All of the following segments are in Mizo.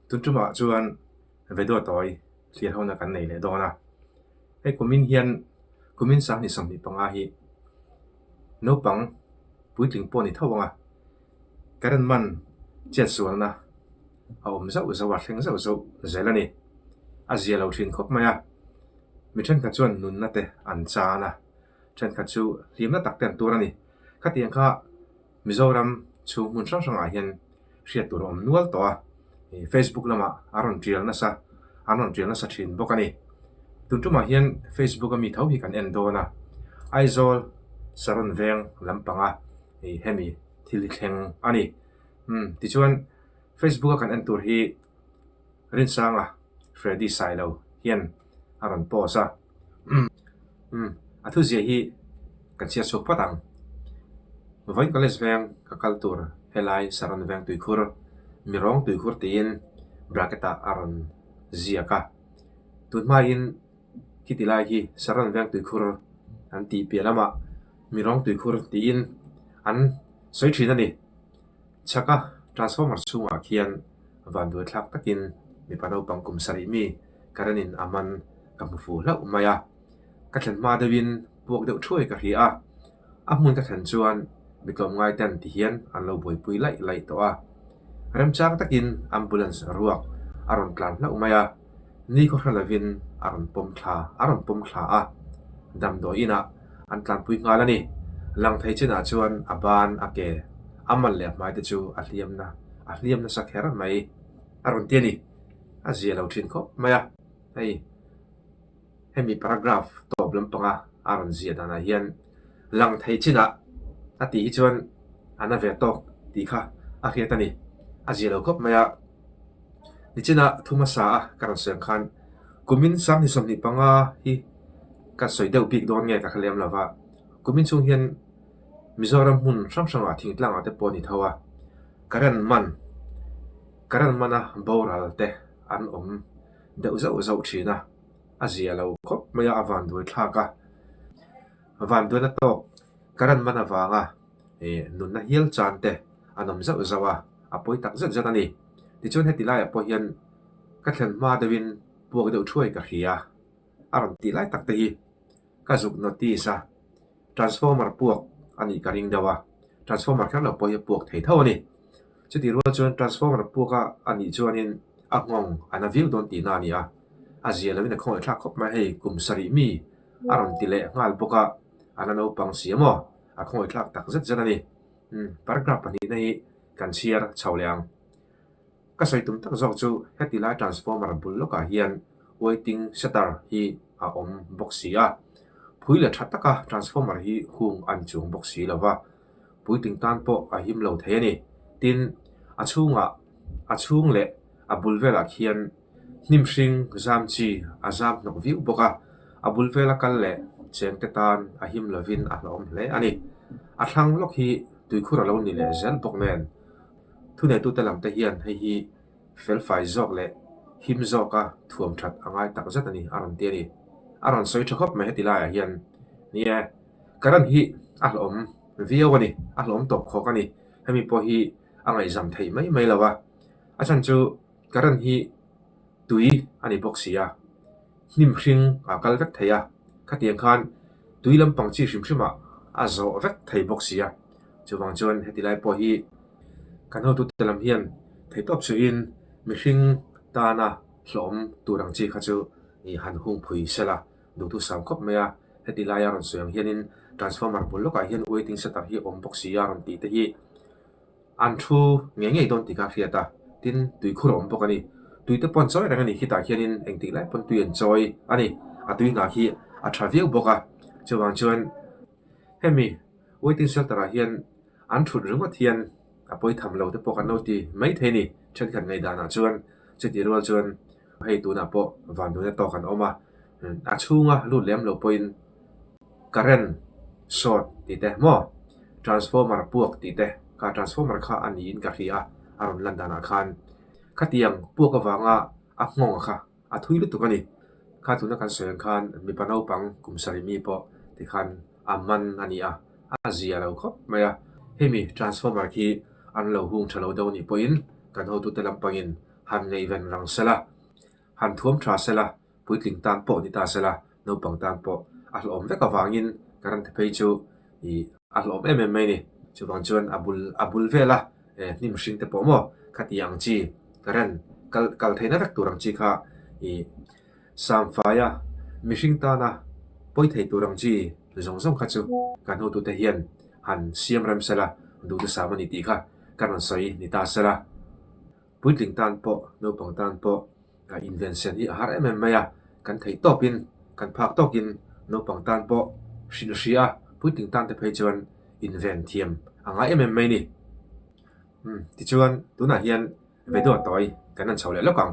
Tuchumah chuan Veduatawi hliah hona kan nei leh dawn a, hei kumin hian kumin sangni sawmhnih panga hi naupang puitling pawh a ni tho ang a, ka rawn man chiat sual na a awm zauh zauh a, a thleng zauh zauh zel a ni, a zia lo thin khawp mai a, mi thenkhat chuan nunna te an chan a. thenkhat chu hlimna tak ten tur a ni. Khatiang kha Mizoram chhung hmun hrang hrangah hian hriat tur a awm nual tawh a, Facebook lamah a rawn tial nasa an rawn tial nasa thin bawk a ni. Tun tumah hian Facebook a mi tho hi kan en dawn a, Aizawl Saron veng lampanga hemi thil hi thleng a ni. Tichuan Facebook a kan en tur hi Rinsanga Freddy Sailo hian. a rawn pause a umm umm a thuziah hi ka chhiat chhuak phawt ang vawi college veng ka kal tur helai saron veng tuikhur mi rawng tuikhur tiin bracket ah a rawn ziak a tunhmain heti lai hi saron veng tuikhur an tih piah lamah mi rawng tuikhur tiin an sawi thin a ni Chhaka transformer chhungah khian van duaithlak takin mipa naupang kum sarih mi current in a man ka hmu fuh hlauh mai a, ka thlen hma deuhin puak deuh thuai ka hria a, a hmun ka thlen chuan mi tlawm ngai ten ti hian an lo buaipui laih laih tawh a, remchang takin ambulance ruak a rawn tlan hlauh mai a. Ni khaw hre lovin a rawn pawm thla a rawn pawm thla a, damdawi inah an tlanpui nghal a ni. Lang thei chinah chuan a ban a ke, a mal leh a hmai te chu a hliam na a hliam nasa kher mai a rawn ti a ni. A ziah lo thin khawp mai a hei Hemi paragraph tawp lampanga a rawn ziah danah hian lang thei chinah a tih hi chuan a na ve tawk tih kha a hriat a ni. A ziah lo khawp mai a. Nichina thu hmasa a ka rawn siam khan kumin sanghnih sawmhnih panga hi kan sawi deuh bik dawn nge ka kha lem lova. Kumin chhung hian Mizoram hmun hrang hrangah thingtlangah te pawh a ni tho a, ka ran man ka ran man a boral te an awm deuh zauh zauh thin a, a zia lo khawp mai a, a van duai thlak a, van duaina tawk ka rawn man avanga eh nunna hial chan te an awm zauh zauh a, a pawi tak zet zet a ni, tichuan heti laiah pawh hian ka thlen hma deuhin puak deuh thuai ka hria a rawn tih lai tak te hi. Ka zuk notice a, transformer puak a nih ka ring deuh a, transformer kher lo pawh hi a puak thei tho a ni. Chutirual chuan transformer puak a a nih chuanin a nghawng a na viau dawn tihna a ni a, a zia loin a khawngei thlak khawp mai hei kum sarih mi a rawn ti leh nghal bawk a, a na naupang si emaw a khawngei thlak tak zet zet a ni. Paragraph pahnihna hi kan chhiar chho leh ang. Ka sawi tum tak zawk chu heti lai transformer bul lawkah hian waiting setter hi a awm bawk si a, phui leh tha taka transformer hi hung an chung bawk si lo va, puitling tan pawh a him lo thei a ni. Tin, a chhungah, a chhung leh a bul velah khian hnim hring zam chi a zam hnawk viau bawk a, a bul vel a kal leh cheng te tan a him lovin a hlawm hle a ni. A thlang lawk hi tuikhur a lo ni leh zel bawk nen. Thuneitute lam te hian hei hi felfai zawk leh him zawka thuam that a ngai tak zet a ni a rawn ti a ni. A rawn sawi tha khawp mai heti laiah hian ni e, ka ran hi a hlawm viau a ni, a hlawm tawp khawk a ni, hemi pawh hi a ngaihzam thei mai mai lo a, a chhan chu. Ka ran hi tui a ni bawk sia, hnim hring a kal vek thei a, khatiang khan tui lampang chi hrim hrim ah a zawh vek thei bawk sia. Chuvang chuan heti lai pawh hi kan hotute lam hian thei tawp suhin mihring tana hlawhawm tur ang chi kha chu han hung phui sel a, duhtu sam khawp mai a, heti lai a rawn sawi ang hianin transformer bul lawkah hian waiting setter hi a awm bawk sia rawn tih te hi. An thu ngei ngei dawn ti kha a hriat a, tin tui khur a awm bawk a ni. Tui te pawh an chawi reng a ni, khitah khianin eng tih lai pawn tui an chawi a ni. A tui hna khi a tha viau bawk a, chuvang chuan hemi waiting shelter ah hian an thut ringawt hian a pawi tham lo te pawh kan lo ti maithei a ni. Thenkhat ngaidanah chuan chutirual chuan. Hei tunah pawh vanduina tawk an awm a, a chhunga lut lem lo pawhin current short tih te maw, transformer puak tih te kha transformer kha a niin ka hria, a rawn lan danah khan khatiang puak avanga a nghawng kha a thui lutuk a ni. Kha tuna kan sawi ang khan mipa naupang kum sarihmi pawh tikhan a man a ni a, a zia lo khawp mai a, hemi transformer khi an lo hung tha lo deuh anih pawhin kan hotute lampangin, Han ngei ran rang sal a, han thuam tha sal a, puitling tan pawh ni ta sal a, naupang tan pawh a hlawhawm vek avangin ka ran thephei chu ih a hlawhawm em em mai ni. Chuvang chuan a bul a bul vela eh hnim hring te pawh maw kha ti ang chi ka ran kal kal theihna vek tur ang chi kha ih Samfaia mihring tana pawi thei tur ang chi zawng zawng kha chu ka hnutute hian han siam rem sal a, duhte sam a ni tih kha ka rawn sawi ni ta sal a. puitling tan pawh naupang tan pawh ah invention hi a har em em mai a kan theih tawp in kan phak tawk in naupang tan pawh hrilh hria puitling tan te phei chuan invent thiam a ngai em em mai ni umm tichuan tunah hian ve dawt tawi kan rawn chho leh lawk ang.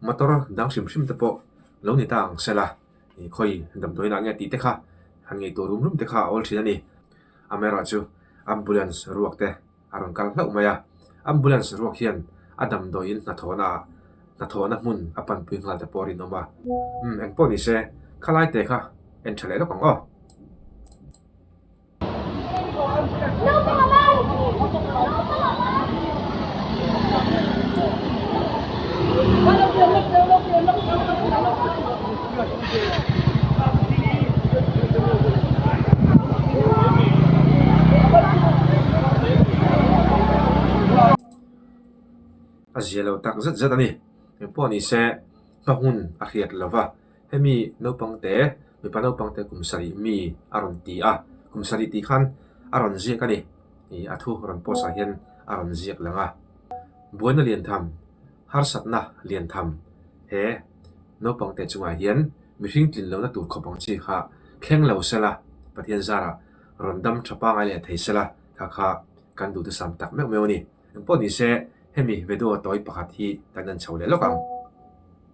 Motor dang hrim hrim te pawh lo ni ta ang sela, i khawi dam dawi lah nge tih te kha han ngei tur rum rum te kha a awl thin a ni. Amerawh chu ambulance ruak te a rawn kal hlauh mai a, ambulance ruak hian a dam dawiin hnathawhna ah hnathawhna hmun a panpui nghal te pawh a rinawm a. Umm engpawh ni se, khalai te kha en tha leh lawk ang aw. a zialo tak zet zet a ni engpawh ni se hna hun a hriat lova. Hemi naupang te mipa naupang te kum sarih mi a rawn ti a, kum sarih tih khan a rawn ziak a ni. Ih a thu rawn post ah hian a rawn ziak lang a. Buaina lian tham, harsatna lian tham he naupang te chung ah hian mihring tlin lohna tur khawp ang chi kha thleng lo sela, Pathian zara rawn dam tha pangai leh thei sela kha kha kan duh tasam tak meuh meuh a ni. Engpawh ni se hemi vedo tawi pakhat hi kan han chho leh lawk ang.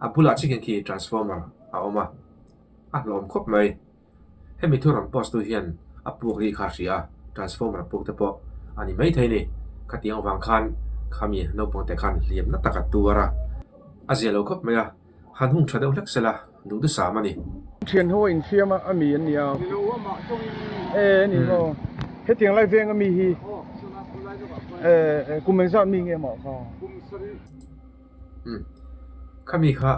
A bulah chikin khi transformer a awm a, a hlawm khawp mai. Hemi thuram post tu hian a puk ri kha hria, transformer puk te pawh a ni maithei ni. Khatiang vang khan khami naupang te khan hliam na taka tuar a, a zia lo khawp mai a, han hung tha deuh hlek sela duhdusam a ni. Thian ho a inthiam a ami an ni a, e ni maw? Hetiang lai veng ami hi kum an zat mi nge mah kha? Umm. Khami kha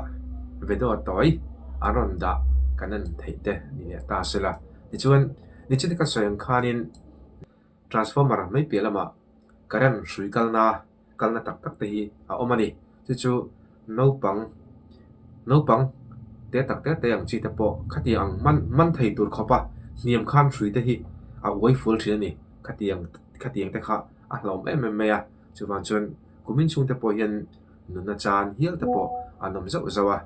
vedo tawi a rawn dah ka nan theih te ni leh ta sela. Tichuan nichina ka sawi ang khanin transformer mai piah lamah current hrui kal na kalna tak tak te hi a awm a ni. Chu chu naupang naupang te tak tak te ang chi te pawh khatiang ang hman hman thei tur khawpa hniam khan hrui te hi a uai fual thin a ni. Khatiang khatiang te kha a hlawm em em mai a. Chuvang chuan kumin chhungte pawh hian nunna chan hial te pawh an awm zauh zauh a,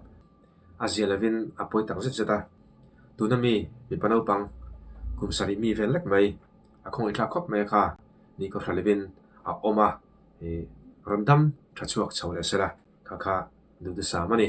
a zia lovin a pawi tak zet zet a. Tuna mi mipa naupang kum sarih mi vel lek mai, a khawngaih thlak khawp mai a kha, ni ka hre lovin a awm a, ih rawn dam tha chhuak chho leh sela kha kha duhthusam a ni.